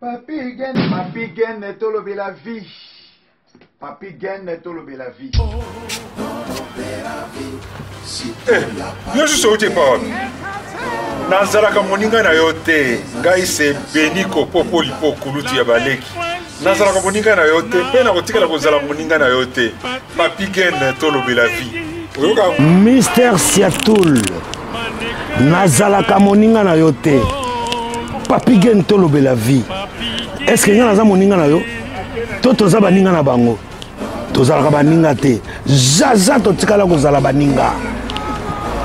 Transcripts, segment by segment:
Papi Gen, Papi Gen tolobela vie. Papi Gen tolobela vie. Eh, yo susu outi epa wapi nazalaka moninga na yo te ngai se beni kopopoli mpo kuluti ya baleki nazalaka moninga na yo te mpe nakotikala kozala moninga na yo te Papi Ken tolobela vie. Mister Siatul nazalaka moninga na yo te. Papi Ken tolobela vie. Est-ce que nga naza moninga na yo? To toza baninga na bango. tozalaka baninga te jaja totikala kozala baninga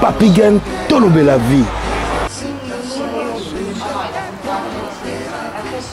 papigen tolobela vie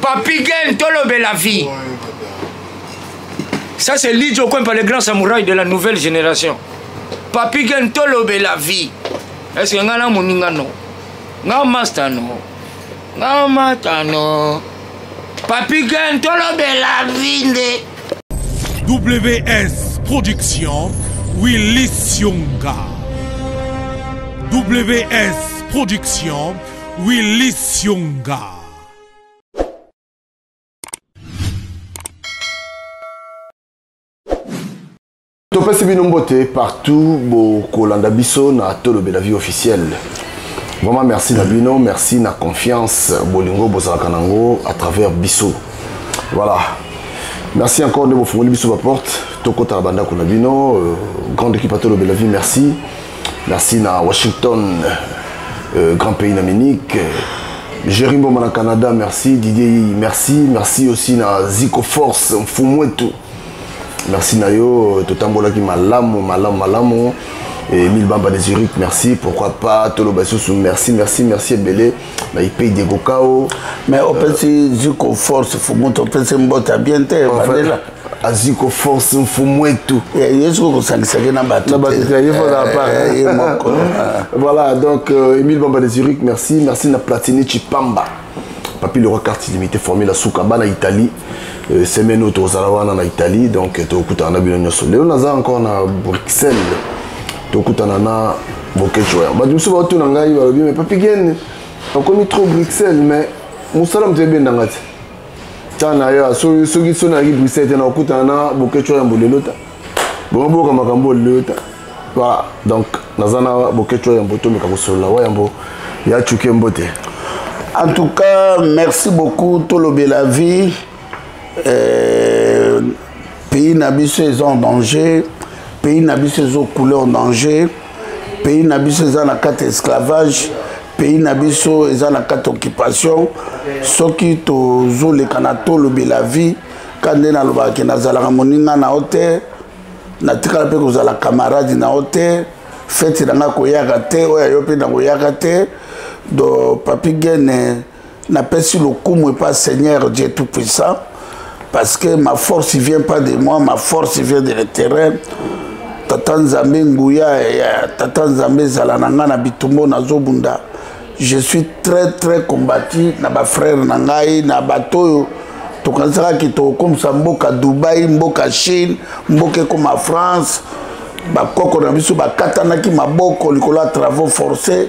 Papi Gen, tolobela vie. Ça c'est Lidjo Kwempa, le grand samouraï de la nouvelle génération. Papi Gen, tolobela vie. Est-ce que ngana moninga no? Nga master no. Nga master no. Papi Gen, tolobela vie nde. WS Production, Willy Sionga. WS Production, Willy Sionga. topesi bino mbote partout bokolanda biso na tolobela vie officielle vraiment merci na bino merci na confiance bolingo bozalaka nango à travers biso voilà merci encore nde bofungoli biso baporte tokota na bandako na bino euh, grande équipe atolobela vie merci merci na washington euh, grand pays d'amérique Jerry Mboma na Canada, merci. Didier Yiyi, merci. Merci aussi na Zico Force, Mfumwetu. Merci na yo, totambolaki malamu, malamu, malamu. Et Mille Bamba de Zurich, merci. Pourquoi pas Tolo Bassoussou, merci, merci, merci. Belé, na IP Diego Kao. Mais au euh, petit Zico Force, Fumwetu, au petit Mbota, bien, t'es, enfin, azwi koforce mfumu etu eh, ye soki kosangisaki na bato na bato te ye fana eh, apart eh, ye moko voilà donc euh, émile bamba de zurich merci merci na platini chipamba papi le roi carte illimité formé na suka bana italie euh, semaine oyo tokozala wana na italie donc tokutana na bino nyonso lelo naza encore na bruxelles tokutana na bokeco ya bato mosusu baotuna ngai balobi me papi gene okomi trop bruxelles mais mosala moto ebenda ngai te ta na yo soki soki so nayaki bruxelles te nakokutana na boketsho ya mbolelo ta bongo boyoka makambo olelo ta voilà donc naza na boketsho ya mbo tomeka kosolola wa yambo ya cuke mbote en tout cas merci beaucoup tolobela vie euh, pays na biso eza en danger pays na biso ezokoule en danger pays na biso eza na kati ya esclavage pays na biso eza na kati occupation soki tozoleka na tolobela vie ka nde nalobaka ke nazalaka moninga na yo te natikala mpe kozala camarade na yo te feti na ngai koyaka te oyo yo mpe nakoyaka te do papi gene napesi lokumu epa seigneur dieu tout puissant parce que ma force vient pas de moi ma force vient de le terrain tata nzambe nguya ya tata nzambe ezala na ngai na bitumbo nazobunda je suis très très combati na bafrère na ngai na bato oyo tokanisaka ke tokokomisa mboka dubai mboka chine mboka ekoma france bakoko na biso bakatanaki maboko likolo ya travaux forcés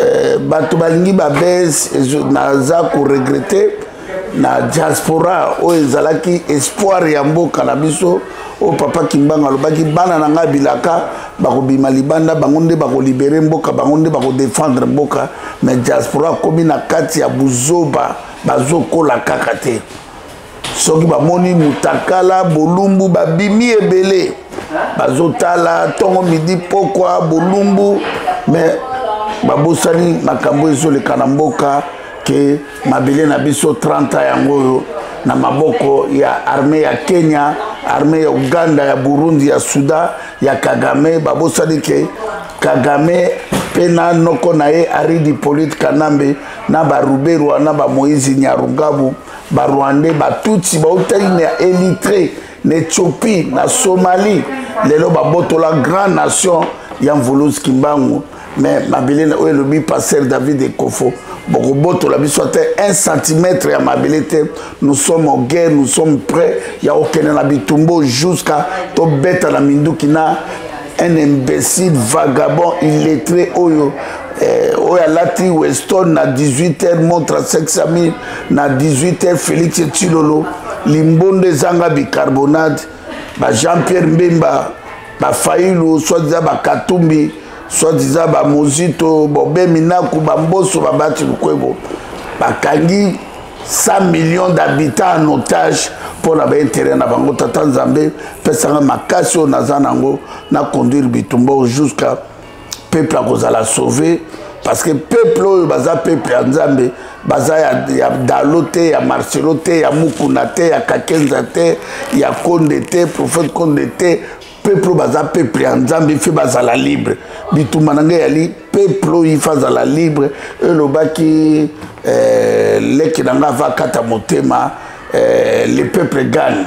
eh, bato balingi babes naza koregrete na diaspora oyo ezalaki espoir ya mboka na biso oyo papa kimbanga alobaki bana na ngai bilaka bakobima libanda bango nde bakolibere mboka bango nde bakodefendre mboka mais diaspora akomi na kati ya buzoba bazokola kaka te soki bamoni mutakala bolumbu babimi ebele bazotala ntongo midi pokwa bolumbu me babosani makambo ezoleka na mboka ke mabele na biso 30 yango oyo na maboko ya arme ya kenya arme ya uganda ya burundi ya sudan ya kagame babosani ke kagame mpe na noko na ye aridi polite kanambe na baruberwa na bamoise nyarugabu barwandais batutsi bautaki na elitre na ethiopie na somalie lelo babotola grand nation ya mvuluzi kimbangu me mabele oyo elobi paster david ekofo bokobotola biso ata 1 cm ya mabele te nous sommes en guerre nous sommes prêt ya kokende na bitumbo jusqu'à tobeta na minduki na un imbécile vagabond illettré oyo eh, oyo alati weston na 18 heures montre 500 000 na 18h Felix Tshilolo limbondo ezanga bicarbonate ba Jean Pierre Mbemba ba Fayulu soit disant ba Katumbi soit disant ba Mozito Bobe Minaku ba Mboso ba Bati Lukwebo bakangi 100 millions d'habitants en otage mpo na baintérêt na bango tata nzambe pesanga makasi oyo naza nango na conduire bitumba jusqu'à peuple akozala sauve parce que peuple oyo baza peuple ya nzambe baza ya, ya dalo te ya marcelo te ya mukuna te ya kakenza te ya konde te prophète konde te peuple oyo baza peuple ya nzambe ife bazala libre bitumba na ngai yali peuple oyo ife azala libre elobaki eh, leki na ngai ava kata motema eh, le peuple gagne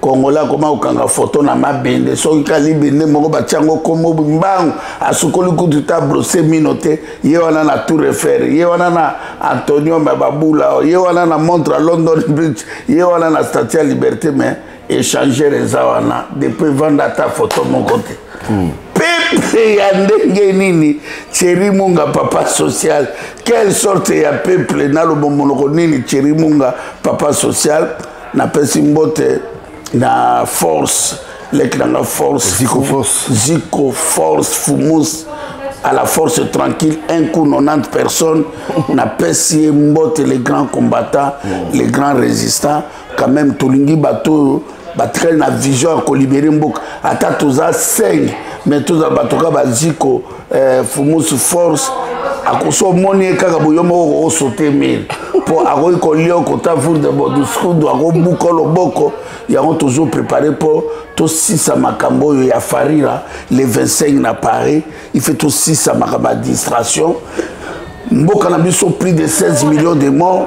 congolais akoma kokanga foto na mabende soki kalibende moko batya yango nkombo mbangu asukoli kutu ta brose mino te ye wana na tour efere ye wana na antonium ya babula ye wana na montre london bridge ye wana na statu ya liberté mais échanger eza wana depuis vanda ata foto moko te hmm. peple ya ndenge nini cheri munga papa social quelle sorte ya peple naloba monoko nini cheri munga papa social napesi mbote na force leki na nga force ziko force ziko force fumus à la force tranquille un coup 90 personnes napesi ye mbote les grands combattants mm. les grands résistants quand même tolingi bato oyo batikali na vision ya kolibere mboka ata toza 5 mais tozala bato ka baziko eh, fumusu force akosi omoni ye kaka boyo moko osote mire mpo akoki kolia okota vurde boduskudu akobuka loboko yango tozo prépare mpo tosisa makambo oyo ya farira le 25 na paris ife tosisa makambo ya distraction mboka na biso plus de 16 millions de morts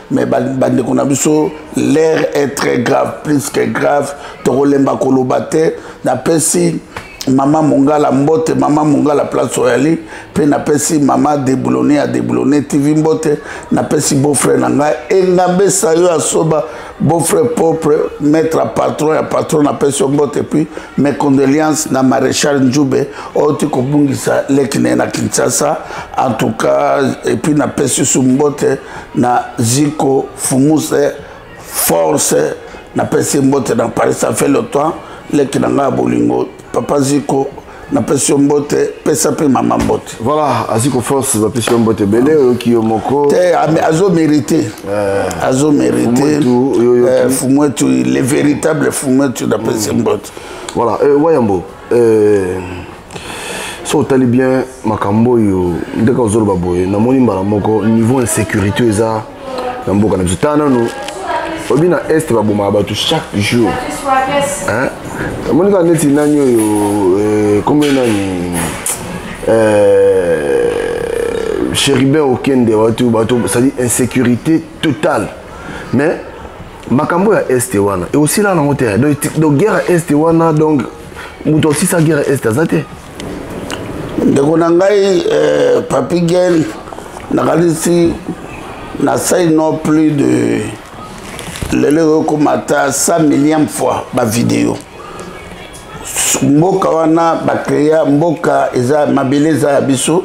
mais bandeko na biso l'air est très grave plus que grave tokolemba koloba te napesi mama mongala mbote mama mongala place oyali mpe napesi mama deboulone ya deboulone tv mbote napesi beaufrère na ngai engambe sayo asoba beaufrère propre maître ya patron ya patron napesi yo mbote puis mes condoléances na maréchal njube oyo ti kobungisa leki na ye na kinshasa en tout cas epuis napesi su mbote na ziko fumuse force napesi mbote na paris ça fait le temps leki na ngai ya bolingo papa ziko napesi yo mbote pesa mpe mama mbote voilà aziko force bapesi yo mbote ebele oyoki yo moko te azo mérite eh. azo mérite eh, fumwetu le véritable fumwetu napesi mm. mbote voilà eh, wayambo euh, so otali bien makambo oyo ndeka ozoloba boye namoni mbala moko niveau insécurité eza na mboka na biso tala nano oyebi na est babomaka bato chaque jour omoni kaka neti nani oyo kombo euh, nani euh, chéribin okende bato bato cestadi insécurité totale mais makambo ya est wana ekosila nango te donc guerre ya est wana donc moto osisa guerre ya est aza te ndeko na ngai euh, papi gen nakanisi nasali no plus de lelo ekokoma ata 100 millième fois bavideo mboka wana bacrea mboka eza mabele eza ya biso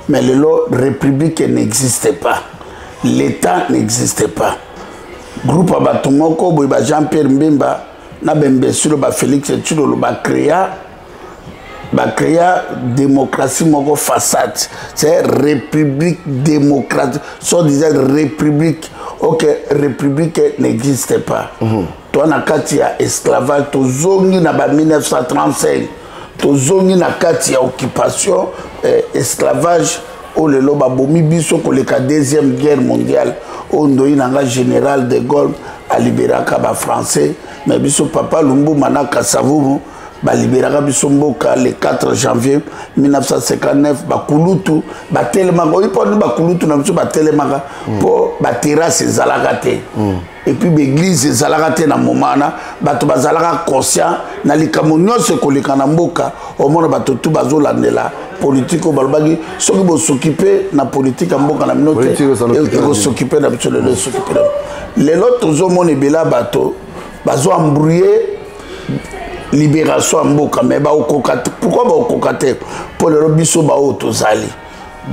mais lelo république n'existe pas l'état n'existe pas groupe ya bato moko boye ba jean pierre mbemba na bembesilo ba félix tshilolo bacrea bacrea démocratie moko façade c'est république démocratique soit disant république ok république n'existe pas mm -hmm. toi na kati ya esclavage tozongi na ba 1935 tozongi na kati ya occupation eh, esclavage oyo lelo babomi biso koleka deuxième guerre mondiale oyo ndoi na nga général de gaulle aliberaka bafrançais me biso papa lumbuma na kasavumu baliberaka biso mboka le 4 janvier 1959 bakulutu batelemaka oyi mponi bakulutu na biso batelemaka mpo mm. baterase ezalaka te mm. et puis baeglise ezalaka te na moma wana bato bazalaka conscient na likambo nyonso ekoleka na mboka omona bato tu bazolandela politike oyo balobaki soki bosokipe na politike ya mboka na bino te e- ekosokipe na biso lelo esokipe lelo lelo tozomona ebele ya bato bazo embrouye libération ya mboka mais bakokoka pourkui bakokoka te mpo lelo biso baoyo tozali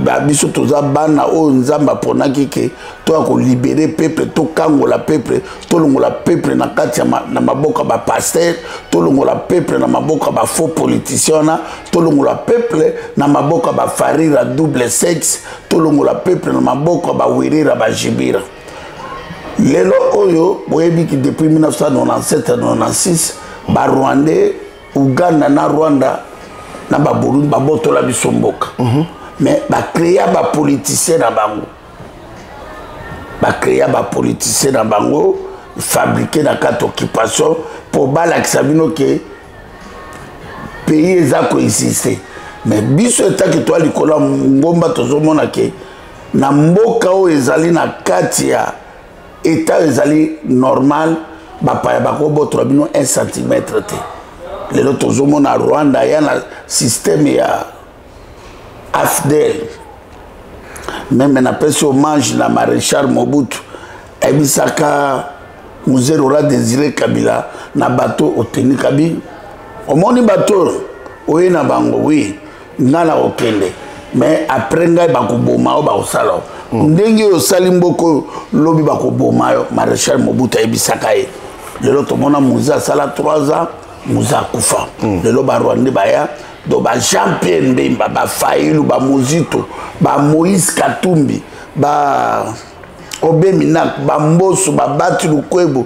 ba biso toza bana oyo nzambe aponaki ke toya kolibere peuple tokangola peuple tolongola peuple na kati na maboko ya bapaster tolongola peuple na maboko ya bafaux politicien wana tolongola peuple na maboko ya bafarira double sexe tolongola peuple na maboko ya bawerera bajibira lelo oyo boyebi ki depuis 1997 96 barwandais Ouganda na Rwanda na ba Burundi ba botola biso mboka. Mm -hmm. Mais ba créer ba politiciens na bango. Ba créer ba politiciens na bango fabriquer na carte occupation pour balakisa bino que pays eza ko exister. Mais biso etaki toi likolo ngomba tozomona que na mboka oyo ezali na kati ya etat oyo ezali normal bapaya bakobotola bino 1 centimetre te lelo tozomona rwanda ya na systeme ya afdel meme napesi hommage na maréchal mobutu ayebisaka muzee rola désiré kabila na bato oteni kabila omoni bato oyo oye na bango wi oui. nga na kokende mais après ngai bakoboma yo bakosala yo hmm. ndenge oyo osali mboka oyo lobi bakoboma yo maréchal mobutu ayebisaka ye lelo tomona mozi asala 3 ans mozi akufa hmm. lelo barwande baya do ba jean pierre mbemba bafailu bamozito bamoïse katumbi ba obe minak bamboso babati lukwebo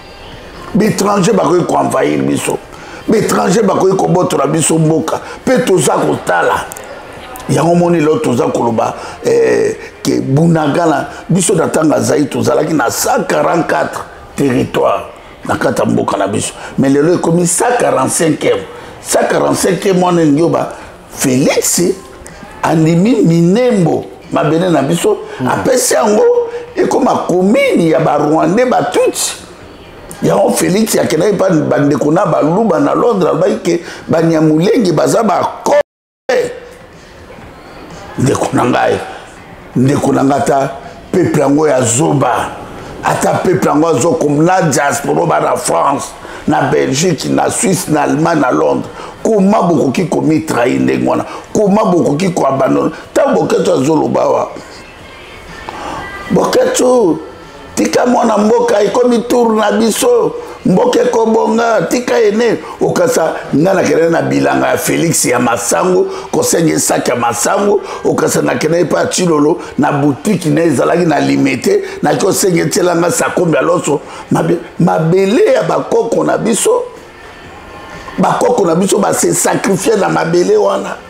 baétranger bakoki koenvahir biso baétranger bakoki kobotola biso mboka mpe toza kotala yango moni lelo toza koloba eh, ke bunagana biso na ntango azali tozalaki na 144 territoire na kati ya mboka na biso mais lelo ekomi 145 145 wana elingi oba Felix andimi minembo mabele na biso mm. apesi yango ekoma komini ya barwandais batutsi yango felix akendaki mpa bandeko na baluba na londres alobaki ke banyamulenge baza bako ndeko na ngai ndeko na nga ata peuple yango ya zoba ata peuple yango azokom na diasporo ba na france na belgique na suisse na allemagne na londres koma bokoki komitrahi ndenge wana koma bokoki koabandona ntango boketo azoloba wa boketo tika mwana mboka ekomi tour na biso mboka ekobonga tika ene okasa nga nakende na bilanga ya félix ya masango kosenga esaki ya masango okasa nakende epa ya cilolo na butiki na ezalaki na limete naki osenga etiela nga sakombi ya loso mabele ya bakoko na biso bakoko na biso base sakrifie na mabele wana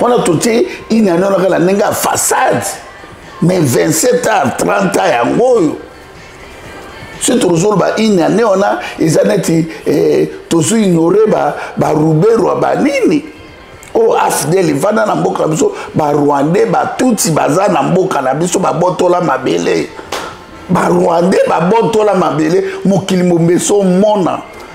wana totie inani wana kaka ndenge ya façade mais 27 ans 30 ans yango oyo soki tozoloba inani wana eza neti eh, tozo ignore baruberwa ba banini oyo afdel efanda na mboka na biso barwandais batutsi baza na mboka na biso babotola mabele barwandais babotola mabele mokili mombeso omona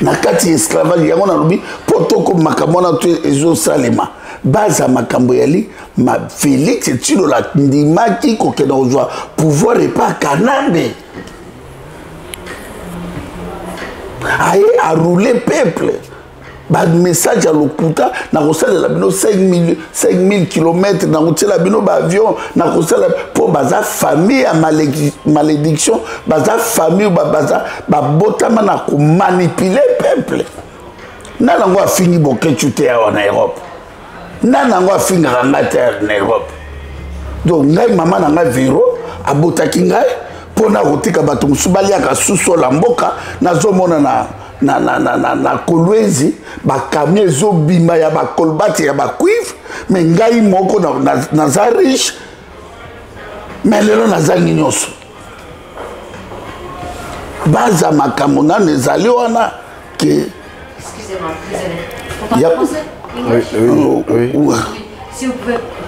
na kati ya esclavage yango nalobi mpo tokomi makambo wana to ezosalema baza makambo yali ma félix etilola ndimaki kokenda kozwa pouvoir epa kanambe aye aroule peuple bamessage ya lokuta nakosalela bino 5000 km nakotiela bino baavion nakosala mpo baza famille ya malédiction baza famille baza babotama na komanipule peuple nana yango afingi bokecu te awa na europe nani yango afingaka ngai te na europe donc ngai mama na ngai vero abotaki ngai mpo na kotika bato mosusu baliaka susola mboka nazomona na na, na, na, na, na kolwenzi bakamio ezobima ya bakolbati ya bacuivre me ngai moko naza na, na riche me lelo nazangi nyonso baza makambo nano ezali wana ke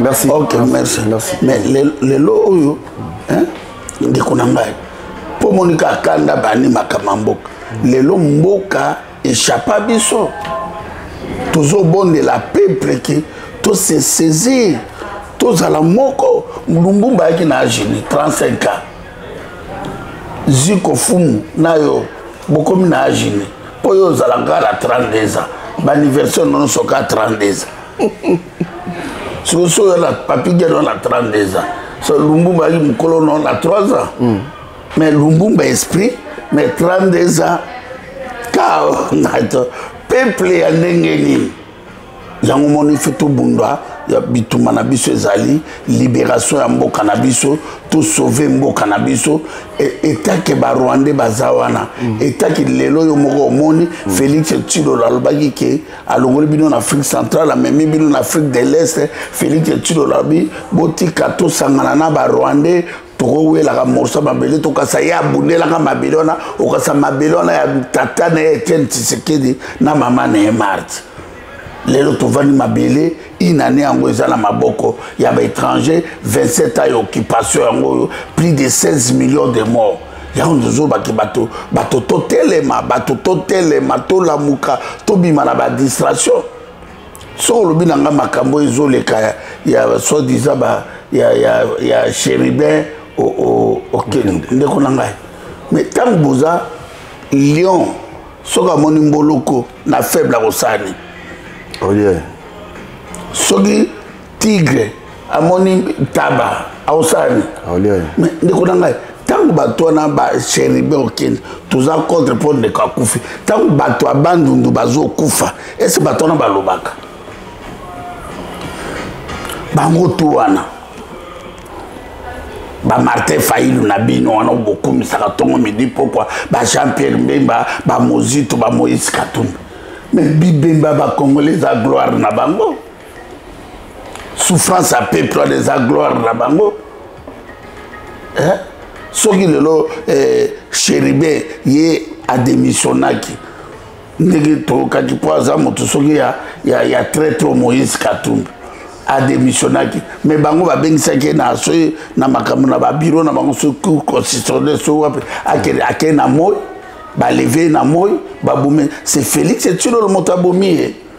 merci ok merci merci mais lelo oyo ndeko na ngai mpo monika akanda bani makambo ya mboka lelo mboka echappa biso tozobondela peuple ke tose saisir tozala moko lumbumba ayaki na age ni 35 ans ziko fumu na yo bokomi na age ni mpo yo ozala ngai na 32 ans baanniversaire nono soka 32 ans sikoso yo na papi geno na 32 ans so lumbumba ayaki mokolo no na 3 ans mm. mais lumbumba esprit mais 32 ans kao nato peuple ya ndenge nini yango moni fe tobunda ya bitumba na biso ezali liberation ya mboka na biso tosauve mboka na biso e, etake barwandais baza wana mm. etake lelo yo moko omoni mm. félix tshilolo alobaki ke alongoli bino na afrique centrale amemi bino na afrique de l'est félix tshilolo alobi botika tosangana na barwandais tokowelaka morso ya mabele tokasa ye abundelaka mabele wana okasa mabele wana ya tata na ye etienne tshisekedi na mama na ye marti lelo tovandi mabele inane yango eza na maboko ya baétranger 27 ans ya occupation yango oyo plus de 16 millions de morts yango tozobaki bato bato totelema bato totelema tolamuka tobima na badistraction soki olobi na ngai makambo ezoleka ya, ya soit disant ba ya, ya, ya chéribin okende ndeko na ngai mais ntango boza lion soki amoni mboloko na faible akosala nini oye oh, soki tigre amoni taba aosalani ndeko na ngai ntango bato wana bacheribe okende toza contre mpo ndeko akufi ntango bato ya bandundu bazokufa ese bato wana balobaka bango tu wana bamartin failu na bino wana bokumisaka ntongo midi mpokwa bajean pierre mbemba bamozito bamoise katumbi me bibemba bacongolais eza gloire na bango souffrance ya peuple wana eza gloire na bango eh? soki lelo eh, cheribe ye ademissionnaki ndenge tokaki mpo aza moto soki ya, ya, ya traitre moïse katumbi ademissionnaki mais bango babengisaki ye na soki na makambo na babiro na bango soki cour constitutionnel soki wapi akei na moi baleve ye na moi babomi se félix etilolo moto abomi ye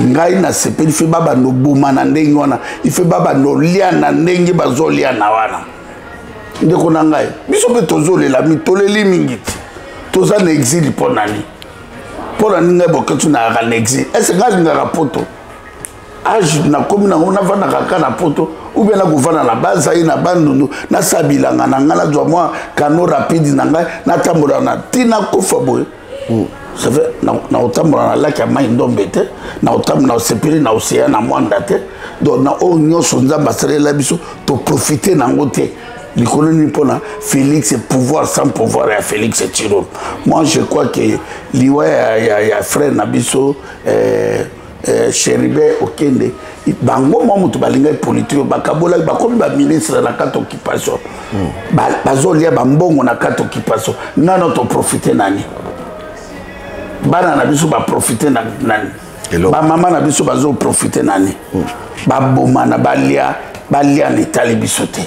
ngai nasepeli fe babanda oboma na ndenge wana ife babanda olia na ndenge bazolia na wana ndeko na ngai biso mpe tozolela mitoleli mingi te toza na exile mpo na nini mpo na nini ngai boketi nayaka na exile ese ngai alingaka poto age nakomi nango navandaka kaka na poto oubien nakovanda na bazai na bandundu nasala bilanga na ngai nazwa mwa kano rapide na ngai natambola na ntina kofa boye Hmm. c'est vrai nakotambola na laki ya mai ndombe te nakotambola osepeli na oseya na mwanda te donc na oyo nyonso nzambe asalela biso toprofite na yango te likolo nini mpona félix pouvoir sans pouvoir ya félix tiro moi je crois que liwa ya, ya, ya frère na biso eh, eh, cheribe okende bango mwa moto balingaki politike bakabolaki bakomi baministre na kati occupation hmm. bazolia bambongo na kati occupation nano toprofite nani bana na biso baprofite na nani bamama na biso bazoprofite nani hmm. babomana balia balia na etali biso te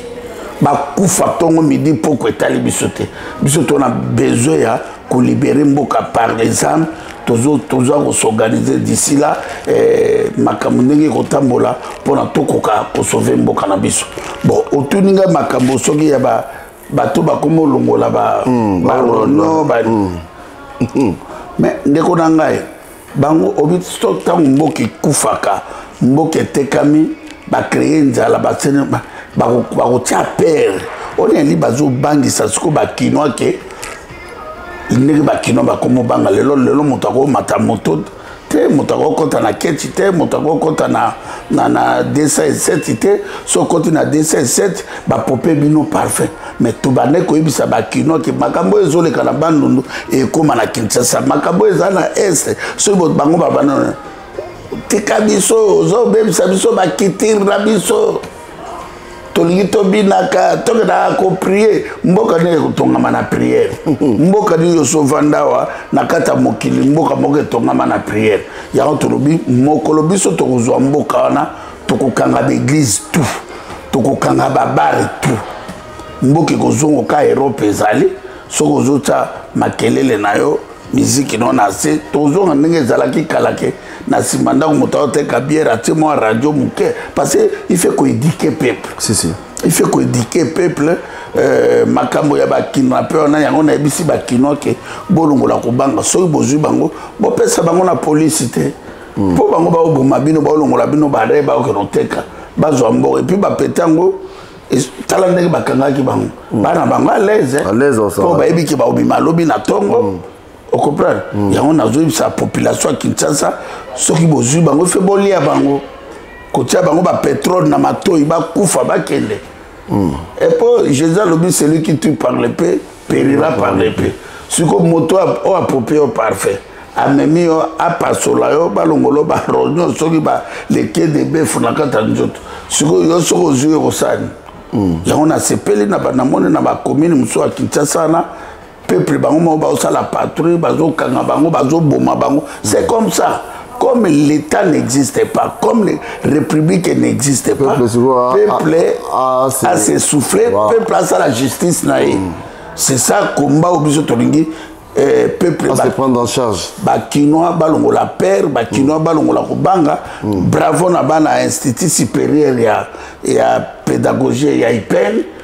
bakufa ntongo midi mpoko etali biso te biso tona besoin ya kolibere mboka par exemple tozo toza ko s'organiser d'ici là eh, makambo ndenge ekotambola mpona tokoka kosauve mboka na biso bon otuni ngai makambo soki ya ba bato bakoma olongola ba mm, ba rono ba mm. mm. mais ndeko na ngai bango obi so ntango mboka ekufaka mboka etekami bacreye nzala basene bakotia pere oneli bazobangisa sikoyo bakinois ke ndenge bakino bakomobanga lelo lelo moto akomata moto te moto akokɔta na keti te moto akokɔta na, na, na 207 te so okoti na 207 bapope bino parfum me tobande koyebisa bakino ke makambo oyo ezoleka na bandundu ekóma na kinshasa makambo oyo eza na este soki bango babana tika biso ozobebisa biso bakitire na biso tolingi tobinaka tokendaka koprie mboka nini ekotongama na priere mboka nini yosovanda awa na kati ya mokili mboka moko etongama na priere yango tolobi mokolo biso tokozwa mboka wana tokokanga baeglize tout tokokanga babare tout mboka ekozongoka erope ezali soki ozotya makelele na yo miziki no na se tozonga ndenge ezalaki kala ke na nsima ndako moto aoteka biere atie mwa radio moke parce que il fait koédike peuple si, si. il fait koédike peuple euh, makambo ya bakinois mpe wana yango nayebisi bakinois ke bolongola kobanga soki bozwi bango bopesa bango na polisi te hmm. mpo mm. bango baoboma bino baolongola bino bare baokende oteka bazwa mboka epuis bapete yango tala ndenge bakangaki bango mm. bana bango alaise po bayebi ke baobima lobi na ntongo mm. ocomprendre mm. yango nazoyebisa population ya kinshasa soki bozwi bango fe bolia bango kotia bango bapetrole na matoi bakufa bakende epo jésus alobi celui qui tue par le pe perira parle pe siko moto oyo apopi yo parfait amemi yo apasola yo balongolo baronio soki baleki edebefu na kati ya nzoto sikoyo yo soki ozwi yo kosani hmm. yango nasepeli na banamoni na bakomini mosusu ya kinshasa wana peuple bango moko bazosala patrouille bazokanga bango bazoboma bango c'est comme ça comme l'État n'existait pas, comme les républiques n'existaient pas, peuple a, a s'essoufflé, wow. peuple a ça la justice naïe. Mm. C'est ça combat au biso tolingi. Eh, peuple ba, se prendre en charge bakinois balongola père bakinois mm. balongola kobanga mm. bravo na bana institut supérieur ya, ya pédagogie ya ipene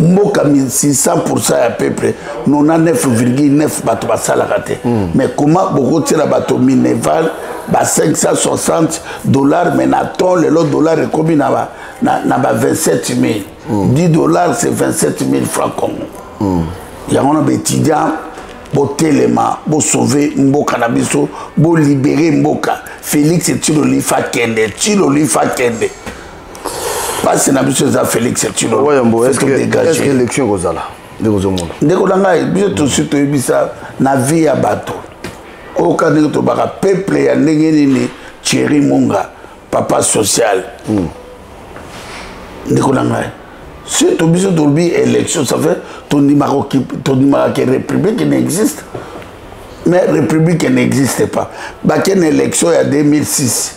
mboka 1600 ya peuple 99,9 bato basalaka te mm. mais comment bokotiela bato mineval ba 560 dollars mais na ton lelo dollar ekomi na ba, na, na ba 27 000 mm. 10 dollars c'est 27 000 francs congo mm. yango na baétudiant botelema bosauve mboka na biso bolibere mboka félix tilolifa kende tilolifa kende basi na biso eza félix etinolofeeske élection ekozala ndeko ozomona ndeko na ngai biso tosi toyebisa na vie ya bato oyoka ndenge tobaka peuple ya ndenge nini thierry munga papa social mm. ndeko na ngai surtout biso tolobi élection ça fait tondimaka ke république n'existe mais république n'existe pas bakende élection ya 2006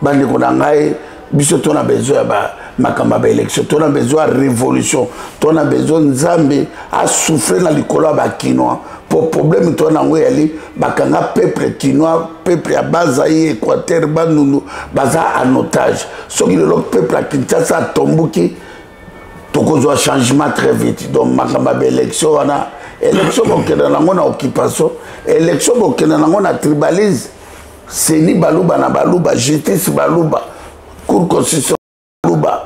bandeko na ngai biso to na besoin ya makambo ya baélection to na besoin ya révolution to na besoin nzambe asouffle na likolo ya bakinois mpo problème to na yango eyali bakanga peuple kinois peuple ya bazai équateur bandundu baza en otage soki lelo peuple ya kinshasa atomboki tokozwa changement très vite donc makambo ya baélection wana élection bokenda nango na occupation élection bokenda nango na tribalisme seni baluba na baluba justice baluba cour constitution baluba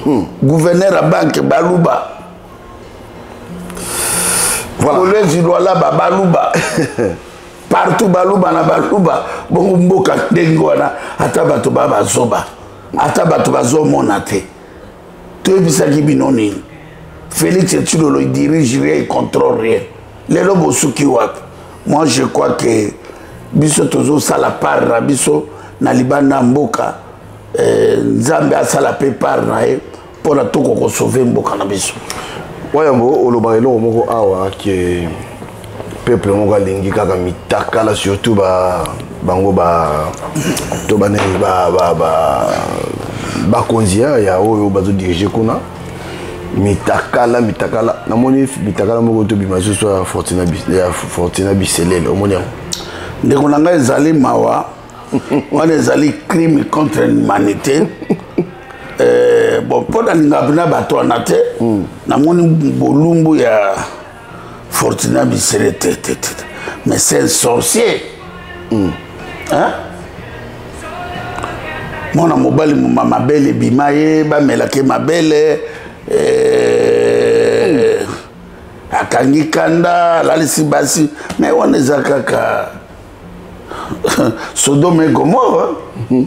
hmm. gouverneur ya banke baluba voilà. kolezi lwalaba baluba partout baluba na baluba bongo mboka ndenge wana ata bato ba bazoba ata bato bazomona te toyebisaki bino nini félix etsilolo dirige rien il contrôle rien lelo bosuki wapi moi je crois que biso tozosala part na biso na libanda ya mboka eh, nzambe asala mpe part na ye mpo na toko kosauve mboka na biso wayambo olobaka eloko moko awa ke peuple moko alingi kaka mitakala surtout ba bango ba to ba ba ba, ba bakonzi ya oyo bazodirige kuna mitakala mitakala namoni mitakala moko tobima lisusu ya fortina biselele omoni yango ndeko na ngai ezali mawa wana ezali crime contre l'humanité eh, bon mpo nalingaka mpena bato wana te hmm. namoni bolumbu ya Fortuna Misere te te te. Mais c'est un sorcier. Mm. Hein? mwana mobali moma mabele ebima ye bamelake mabele eh, akangi kanda alalisi basi me wana eza kaka sodome gomore mm -hmm.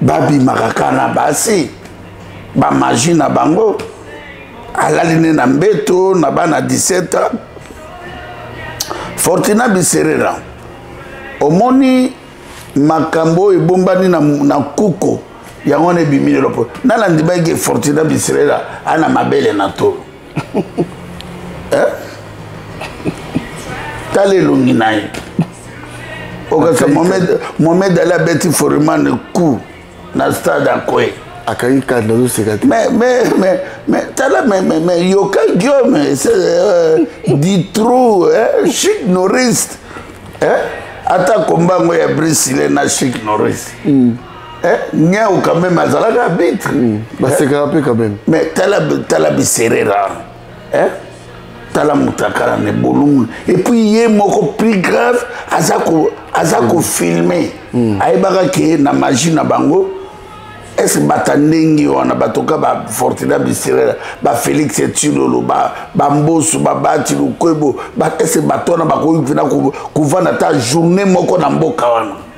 babimaka kaka na basi bamaji na bango alali ne na mbeto na bana 17 ans fortina biserera omoni makambo oyo ebombani na, na kuko yango wana ebimi lelo mpo nana ndimaki fortina biserera ana mabele na tolo eh? tala elongi na ye okasa mohamed ali abeti forimane coup na stade akoye akangi kati nazoseka te mais mais mais mais tala mais mais mais yoka guillaume c'est euh, du trou hein chic noriste hein ata kombango ya brisile na chic noriste mm. Eh, Niaou quand même azalaka arbitre. Hmm, basekaka mpe quand même. Mais tala tala biserera. Hein? tala mutakala ne bolungu et puis ye moko plus grave aza ko aza ko hmm. filmer. Hmm. Ayebaka ke na magie na bango est-ce que bata ndenge wana batoka ba Fortuna biserera ba Félix Tshilolo ba ba Mbosu ba Bati Lukwebo ba est-ce que bato wana bakoki mpena kovanda ata journée moko na mboka wana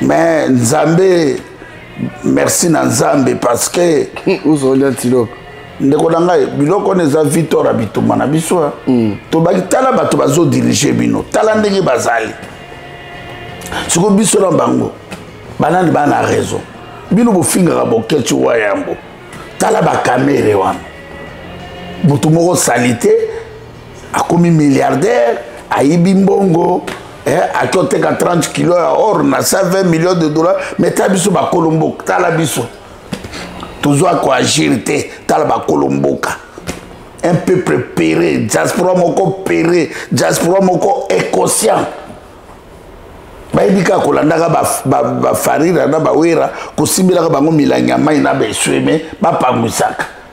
mais nzambe merci na nzambe parce que ozoli antilope ndeko na ngai biloko wana eza victor ya bitumba na biso eh. hmm. tobaki tala bato bazodirige bino tala ndenge bazali siko biso na bango banani bana raison bino bofingaka bokeci wa yambo tala bakamere wana moto moko salite akomi milliardaire ayibi mbongo eh, ake oteka 30 kilo ya or na 120 million de dollar mais tala biso bakolo mboka tala biso tozwa koagir te tala bakolo mboka un peuple pere diaspora moko pere diaspora moko inconscient bayebi kaka kolandaka bafarira na bawera kosimbelaka bango milangi ya mai na baesweme bapangwisaka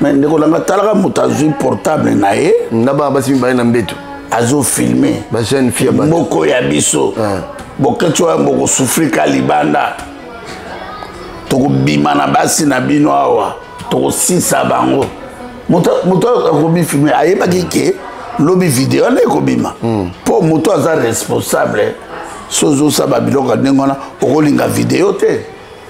mais ndeko nanga talaka moto azwi portable na ye na bana basi mibale na mbeto azofilme bajeune fille ya moko ya biso ah. boketso ya bokosufri ka libanda tokobima na basi na bino awa tokosisa bango moto akomi filme ayebaki ke lobi video wana ekobima mpo hmm. moto aza responsable sozosaba biloko ndenge wana okolinga video te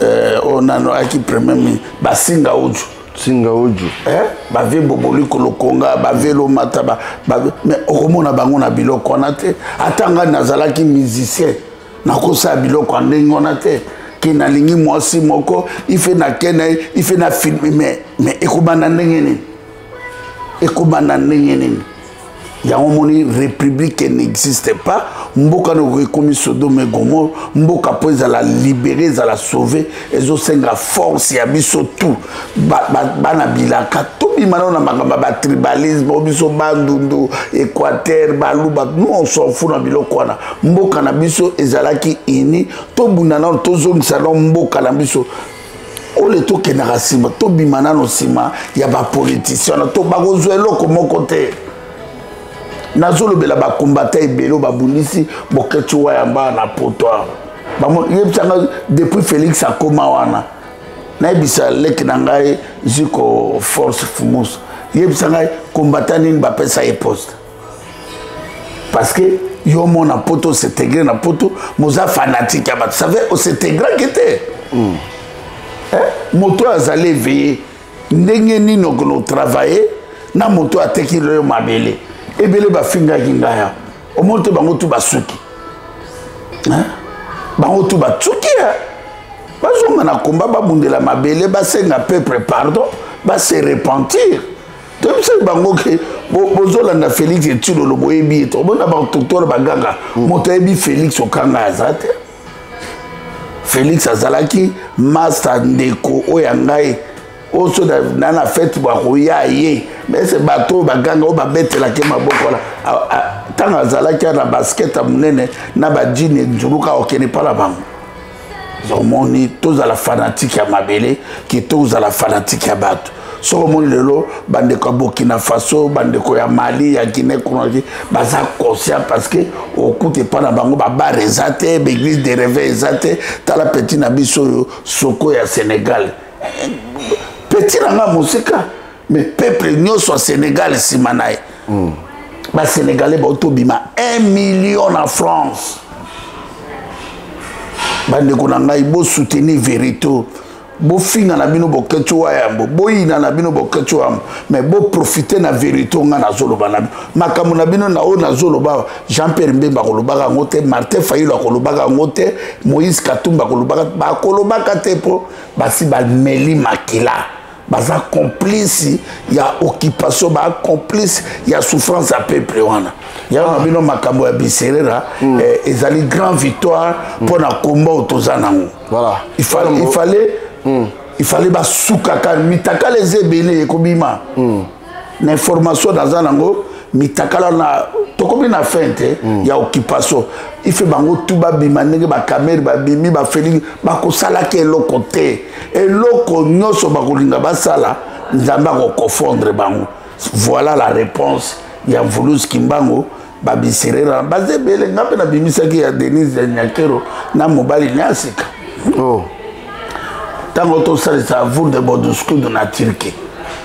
eh, oyo nano ayaki premier ministre basinga ojo singa ojo eh? bave boboli kolokonga bave lomata ba, ba, mais okomona bango na biloko wana te ata ngai nazalaki musicien nakosala biloko ya ndenge wana te ke nalingi mwasi moko ife nakenda ife na filme mais ekobanda ndenge nini ekobanda ndenge nini yango omoni république n'existe pas mboka noko ekomi sodome gomor mboka mpo ezala libéré ezala sauve ezosenga force ya biso tout bana bilaka tobima nao na makambo ya batribalisme o biso bandundu équateur baluba non sofu na biloko wana mboka na biso ezalaki ini tobunda nano tozongisa nao mboka na biso ole tokendaka nsima tobima nano nsima ya bapolitisien wana to bakozwa eloko moko te nazolobela bakombata ebele oyo babundisi boketi wayamba na poto yebisanga depuis félix akoma wana nayebisa leki na ngai ziko force fumus yebisa ngai kombata nini bapesa ye poste parce que yo mona poto osetegre na poto moza fanatique ya bato save osetegraki te mm. eh? moto oyo azali eveye ndenge nini okolo travaille na moto oyo ateki loyo mabele ebele bafingaki ngai ya omoni te bango tu basuki eh? bango tu basuki eh? bazonga na komba babundela mabele basenga peuple pardon base repentir toyebisaki bango ke bozolanda félix etilolo boyebi ye to omona badoktore baganga mm. moto ayebi félix okanga aza te félix azalaki masta ndeko oyo ya ngai oyo so na na fete bakoya ye mese bato oyo baganga oyo babetelaki maboko wana ntango azalaki na basket ya monene na bajini nzuluka okende mpa na bango omoni tozala fanatike ya mabele ke tozala fanatike ya bato soki omoni lelo bandeko ya burkina faso bandeko ya mali ya guinée conakry baza conscient parce que okuta epai na bango babare eza te baeglise de reveil eza te tala petit na biso oyo soko ya sénégal petit na ngai mosika mais peuple nyonso ya sénégal nsima na ye mm. basénégalais baotobima 1 million na france bandeko na ngai bosoutenir verito bofinga na bino boketi wa yambo boyina na bino boketi wa yambo mais boprofite na verité nga nazoloba na bino makambo na bino na oyo nazoloba jean pierre mbemba akolobaka yango te martin fayilo akolobaka yango te moïse katumba akolobaka bakolobaka te mpo basi bameli makila baza complice ya occupation ba complice ya souffrance ya peuple wana yango na bino makambo ya biserera mm. eh, ezali grand victoire mpo mm. na komba oyo toza nango voilà. il fallait, il fallait, mm. il fallait basukaka mitakala eza ebele ekobima mm. na information naza nango mitakala na tokomi na fin te mm. ya occupation ife bango tu babima ndenge bakamere babimi bafelingi bakosalaki eloko te eloko nyonso bakolinga basala nzambe akokofondre bango voilà la réponse ya mvuluzi kimbango babiserera baza ebele nga mpe nabimisaki ya denise ya nyakero na mobali na sika ntango oh. tosalisa vour de boduscude na turquie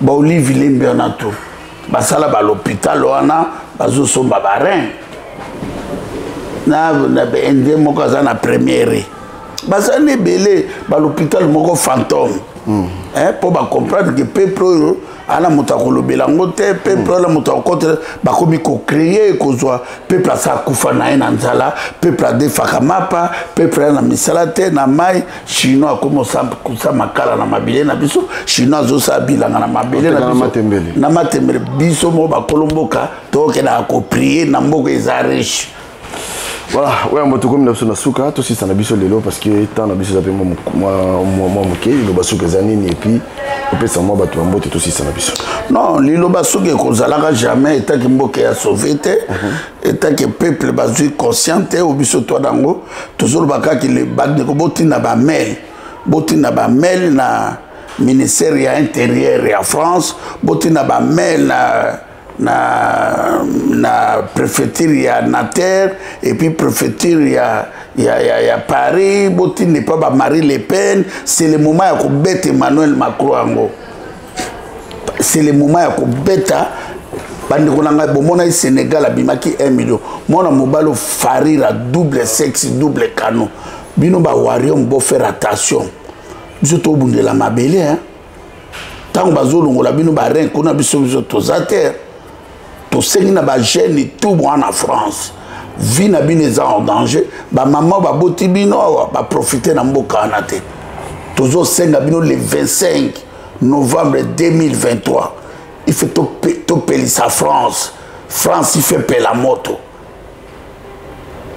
ba olive lembe wana to basala ba l'hôpital wana bazosomba ba rein na na ende moko aza na premiere baza na ebele ba l'hôpital moko fantôme hmm. eh, mpo bacomprendre ke peuple oyo ana moto akolobela yango te peuple ana moto akokotela bakomi kocreye kozwa peuple asa akufa na ye na nzala peuple adefaka mapa peuple aya na misala te na mai chinois akomi osakusa makala na mabele na biso chinois azosala bilanga na mabele na biso na matembele biso moko bakolo mboka tokendaka koprie na mboka eza riche voilà oyo yango tokomi na biso na suka tosisa na biso lelo parce que temps na biso eza mpe mwa moke liloba suka eza nini epuis opesa mwa bato ya mbote tosisa na biso non liloba suka ekozalaka jamais etaki mboka ya sauve te mhm. etant que peuple bazwi conscient te o biso twa nango tozoloba kaka bandeko botinda bamail botinda bamail na ministère ya intérieur ya france botinda bamail na na, na préfecture ya nater epuis préfecture ya, ya, ya, ya paris botinda epa bamarie le pen c'est le moment ya kobeta emmanuel macron yango c'est le moment ya kobeta bandeko na ngai bomonaki sénégal abimaki 1 million mwana mobali ofarira double sexe double canon bino bawarium bofaire attention biso tobundela mabele hein? ntango bazolongola bino barin kuna biso biso toza te tosengi na bagene tout mwa na france vie na bino eza en danger bamama baboti bino awa baprofite na mboka wana te tozosenga bino le 25 novembre 2023 il faut topelisa france france ife pela moto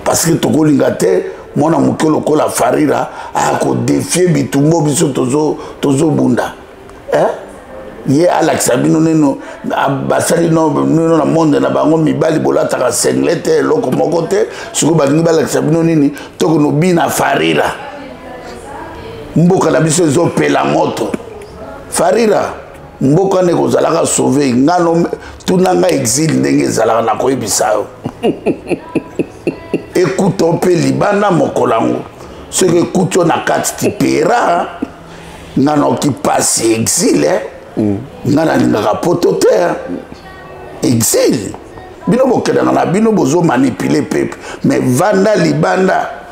parce que tokolinga te mwana moke lokola farira aya kodefie bitumbo biso tozobunda eh? ye alakisa bino neno basali nino na monde na bango mibali bolataka sengle te eloko moko te sikoyo balingi balakisa bino nini tokono bina farira mboka na biso ezopela moto farira mboka nde kozalaka sauve ngano tuna nga exile ndenge ezalaka na koyebisa yo ekuta mpe libanda mokolo yango soki ekuti yo na kati tipera nga naoki mpasi exile eh. mm. nga nalingaka poto te eh. exile bino bokendaka na bino bozomanipule pepe mais vanda libanda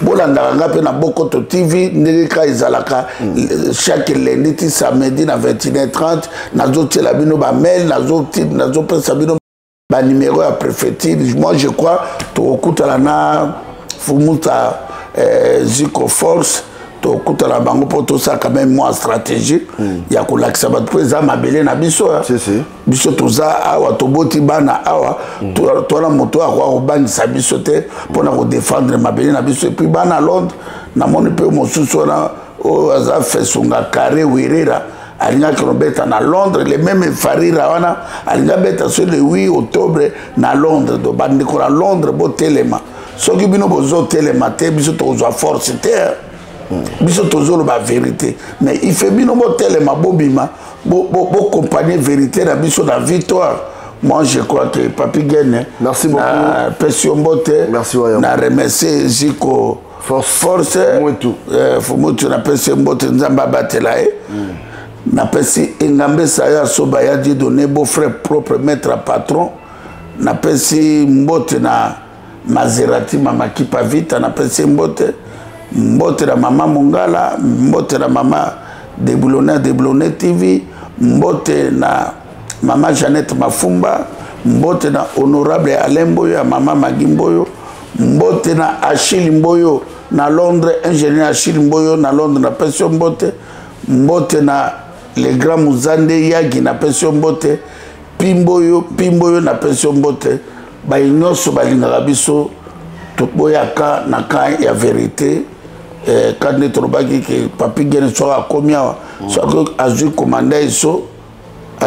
bolandaka nga mpe na bokoto tv ndenge kaka ezalaka mm. chaque lundi ti samedi na 21 30 nazotiela bino bamail nazopesa bino banimero ya préfecture moi je crois tokokutana na fumuta eh, ziko force tokutana bango mpo tosala quand même mwa stratégie mm. ya kolakisa bato mpo eza mabele na biso si, si. biso toza awa toboti bana awa twana moto akoka kobangisa biso te mpona kodefendre mabele na biso epuis bana londre namoni mpe mosusu wana oyo aza fesunga carre werera alingaki kobeta na londres le meme efarira wana alingi abeta so le 8 octobre na londres do bandeko na londres botelema soki bino bozotelema te biso tokozwa force te biso tozoloba verité mais ife bino botelema bobima bocompagne verité na biso na victoire moi je crois que papi gene merci beaucoup na pesi yo mbote na remercie ziko force, force mutu euh, mutu na pesi yo mbote nzambe abatela ye mm. napesi engambesa ya soba ya didone beau frère propre maître patron napesi mbote na Maserati mama Kipavita na pesi mbote mbote na mama Mongala mbote na mama Deblone Deblone TV mbote na mama Jeannette Mafumba mbote na honorable Alain Mboyo ya mama Magi Mboyo mbote na Achille Mboyo na Londres ingénieur Achille Mboyo na Londres na pesi mbote mbote na le grand Muzande Yagi na pesi mbote pimbo yo pimbo yo napesi yo mbote baye nyonso balingaka biso toboyaka na kan ya verite eh, kati nde tolobaki ke papi gene soki akomi awa soki azwi komanda eso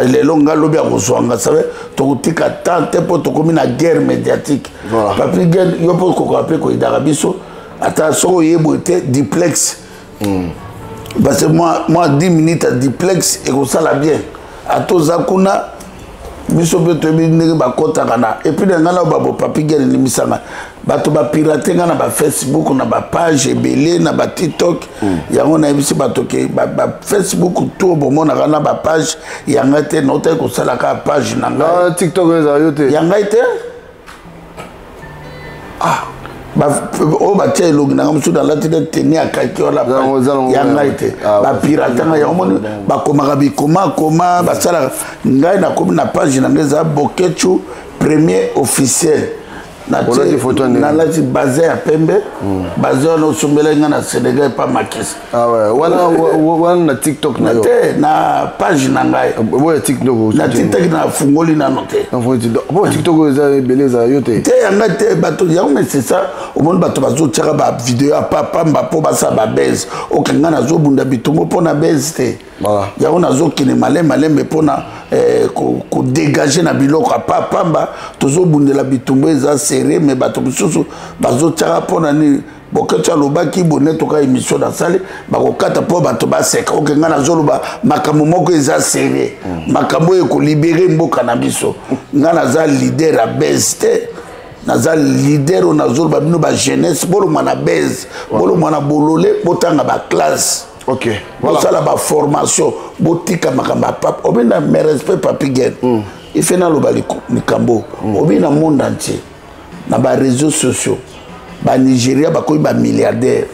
lelo nga lobi akozwa nga save tokotika temps te mpo tokomi na guerre médiatique papi gene yo mpo okokoka mpe koyidaka biso ata soki oyeboye te diplexe mm. parce que moi, moi 10 minutes à diplex ekosala bien ata oza kuna biso mpe toyebi ndenge bakɔtaka na epuis na ngai na babo papigel elimisanga bato bapirate ngai na bafacebook na bapage ebele na batiktok mm. yango nayebisi bato ke bafacebook ba tour bomonaka na bapage ya ngai te nautaki kosalaka page na ngai ah, tiktok ezala yo te ya ngai te ah oyo batya elongi nanga mosusu nalati nde teni ya kaki wana ya ngai te ah, bapirate ngai yango moni bakomaka bikomakoma basalaka ngai nakomi na page na ngai eza bokechu premier officiel nalati baze ya pembe hmm. baze wana osombelaki ngai na senegal epa makisi Ah ouais, wana wana na TikTok na yo. Te na page na ngai. Ah, boya TikTok. Na TikTok na fungoli na note. Na fungoli TikTok. Bo TikTok eza beleza yo te. Te yanga te bato yango mais c'est ça. Omoni bato bazo tiaka ba vidéo ya papa mba po basa ba buzz. Okenga na zo bunda bitumbo po na buzz te. Voilà. Yango na zo kene malem malem mais pona eh, ko, ko dégager na biloko ya papa mba tozo bundela bitumbo eza serré mais bato mosusu bazo tiaka pona ni boketso alobaki bone toka émission nasali bakokata mpo bato baseka oke ngai nazoloba makambo moko eza serie mm. makambo oyo ekolibere mboka na biso ngai naza lider ya base te naza lider oyo nazoloba bino bajeunesse bolongwa na base bolongwa na bolole botanga baklasse ok bosala voilà. baformation botika makambo ya pape obe na merespect papi gen mm. ife naloba likambo mm. obe na monde entier na ba réseaux sociaux ba nigeria bakomi ba milliardaire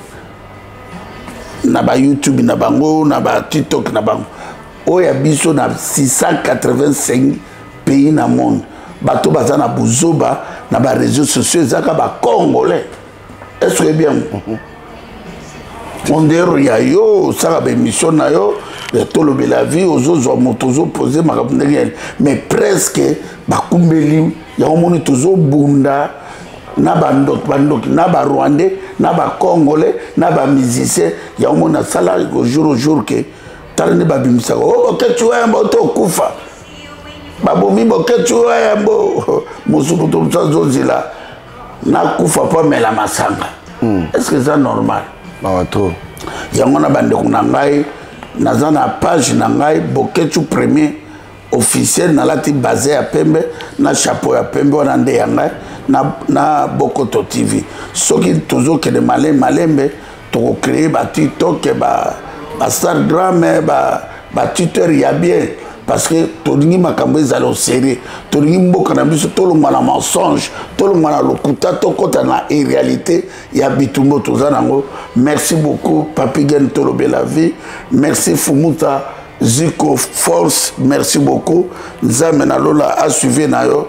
na ba youtube na bango na ba tiktok na bango oyo ya biso na 685 pays na monde bato baza na buzoba na ba réseaux sociaux ezaka ba congolais est ce que bien mondero ya yo osala baémission na yo ya tolobela vie ozozwa moto ozopose makambo ndenge yani mais presque bakumbeli yango moni tozobunda na bandoki bandoki na barwandais na bacongolais na bamusicien yango moni nasala jour au jour ke tala nde babimisaka o oh, bokeci wembo otokufa babomi bokeci wembo mosuku tomosu azozela nakufa mpo amela masanga hmm. est ce que eza normal mawa trop yango na bandeko na ngai naza na page na ngai boketu premier officiel nalati baze ya pembe na chapeau ya pembe wana nde ya ngai na, na bokoto tv soki tozokende malembe malembe toko créer ba tiktok ba ba instagram ba ba twitter ya bien parce que tolingi makambo ezala oserieux tolingi mboka na biso tolongwa na mensonge tolongwa na lokuta tokɔta na iréalité ya bitumbo toza nango merci beaucoup papigen tolobela vie merci fumuta ziko force merci beaucoup nzambe na lola asuive na yo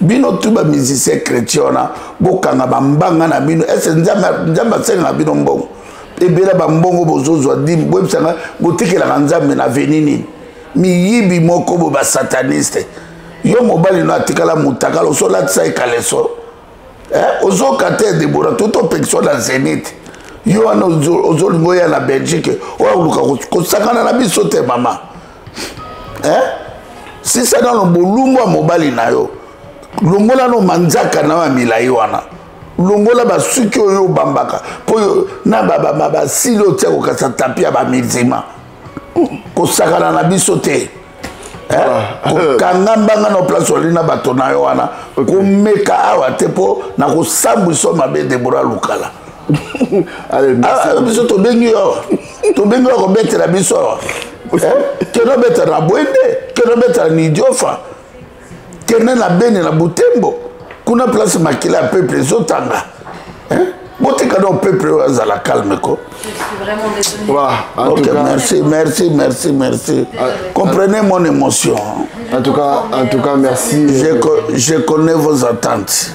bino tu ba musicien chrétien wana bokanga bambanga na bino ese nzambe asengaka bino mbongo ebela bambongo bozozwa dime boyebisanga botikelaka nzambe na veni nini miyibi moko bo basataniste yo mobali no atikala motakala osolatisa ye kaleso eh, ozoka te debora tuti opekisa na zenite yo wana ozolinga oya na belgique oya koluka kosakana na biso te mama eh? sisa nano bolumbu ya mobali na yo longola no manzaka na yo ya milai wana longola basuki oyo obambaka mpo na basili oyo tia kokasa tapi ya bamizima kosakana na biso te eh? ah. kokanga mbanga na place ozali na bato na yo wana komeka awa te mpo na kosambwisa mabe debora lukala ah, biso tobengi yo tobengi yo kobetela biso awa eh, kende obeta na bwende kende obeta na nidiofa kende na bene na butembo kuna place makila ya peuple ezotanga eh? botika donc peuple oyo azala calme ko ok merci merci merci merci comprenez mon émotion en tout cas en tout cas merci je, je connais vos attentes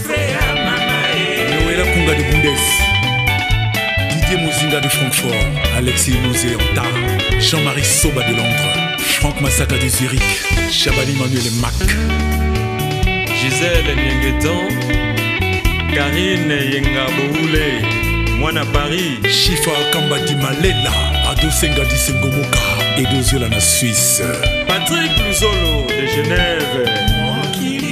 Noël Kunga de Bundes, Didier Mozinga de Francfort, Alexis Mosé Anta, Jean-Marie Soba de Londres, Franck Massaka de Zurich, Chabani Manuel Mac, Gisèle Yengeton, Karine Yenga Boule, Mwana Paris, Chifa Kamba Dimalela, Ado Senga Disengomoka, Edo Ziola na Suisse, Patrick Luzolo de Genève.